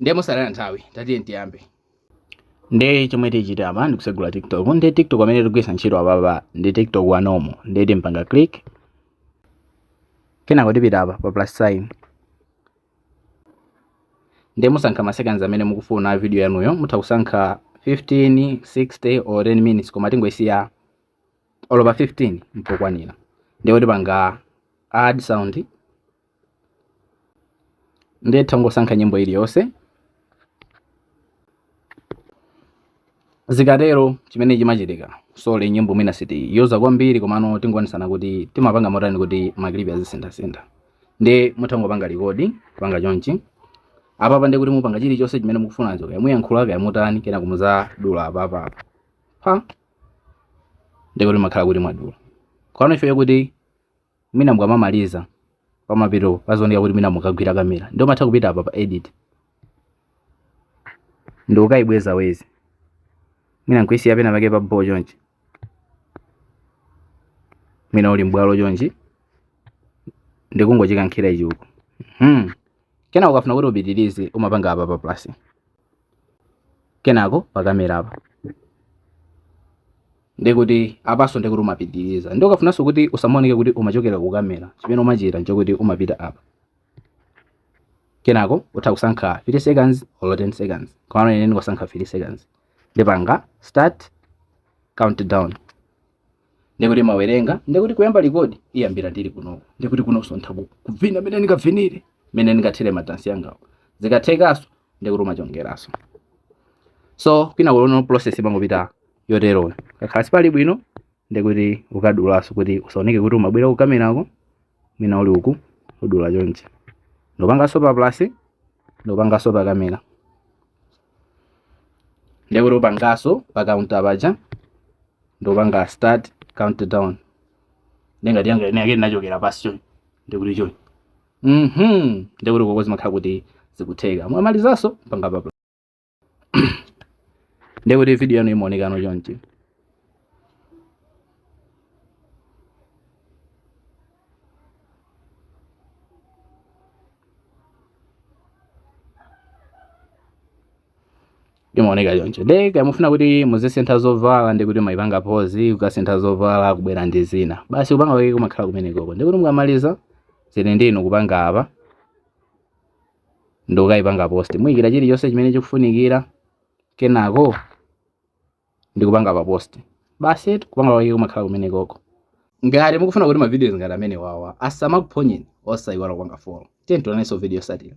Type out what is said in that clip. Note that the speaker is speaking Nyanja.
ndiye mosalana nthawi tatiyeni tiyambe nde chomwe tichita apa ndikusegula tiktok nde tiktok amene tikugwiritsa ntchito apapa ndi tiktok wa normal nde timpanga click kenako tipita apa pa plus sign nde musankha maseconds amene mukufuna video yanuyo mutha kusankha 15 60 or 10 minutes koma tingoisiya olo pa 15 mpokwanira nde tipanga add sound ndiye tangosankha nyimbo iliyonse zikatero chimene chimachitika sorry nyimbo mwina sitiyuza kwambiri komano tingoonetsana kuti timapanga motani kuti makilipi azisinthasintha ndiye mutangopanga record kupanga chonchi apapa ndiye kuti mupanga chilichonse chimene mukufunacho kaya muyankhula kaya mutani kenako muzadula apapa apa pa ndiye kuti makhala kuti mwadula komano ifeyo kuti mwina mukamamaliza pamapeto pazioneka kuti mwina mukagwira kamera nde umatha kupita apa pa edit nde ukaibweza wezi mwina nkuisiya pena pake pabho chonchi mwina uli mbwalo chonchi ndikungochikankhira ichi uko hmm. kenako ukafuna kuti upitirize umapanga apa pa plus kenako pakamera apa ndikuti apanso ndikuti umapitiriza nde ukafunanso kuti usamaoneke kuti umachokera ku kamera chimene umachita nchokuti umapita apa kenako utha kusankha 3 seconds or 10 seconds komano ine ndikusankha 3 seconds ndipanga start countdown ndikuti imawerenga ndikuti kuyamba record iyambira ndili kunoko ndikuti kunonso ntha kubvina mene ndingabvinire mene ndingathere madansi angawo zikathekanso ndikuti umachongeranso so kwina kulono process imangopita yoteroyo kakhala sipali bwino ndikuti ukadulanso kuti usaoneke kuti umabwera kukamerako mwina uli uku udula chonchi ndopanganso pa plus ndopanganso pa kamera ndiye kuti upanganso pa counter paja ndopanga start countdown ndiye ngati yanga ine yake inachokera pansi chonchi ndiye kuti chonchi mhm ndiye kuti koko zimakhala kuti zikutheka mwamalizanso panga pa ndiye kuti video yanu imaonekano chonchi imaoneka choncho nde kaya mufuna kuti muzisintha zovala ndi kuti mumayipanga pause kukasintha zovala kubwera ndi zina basi kupanga kwake kumakhala kumenekoko ndi kuti mukamaliza zili ndinu kupanga apa ndi kukayipanga post muyikira chilichonse chimene chikufunikira kenako ndikupanga pa post basi eti kupanga kwake kumakhala kumenekoko ngati mukufuna kuti ma videos ngati amenewawa asamakuphonyeni osayiwala kupanga follow tiye tionanenso mu video yotsatira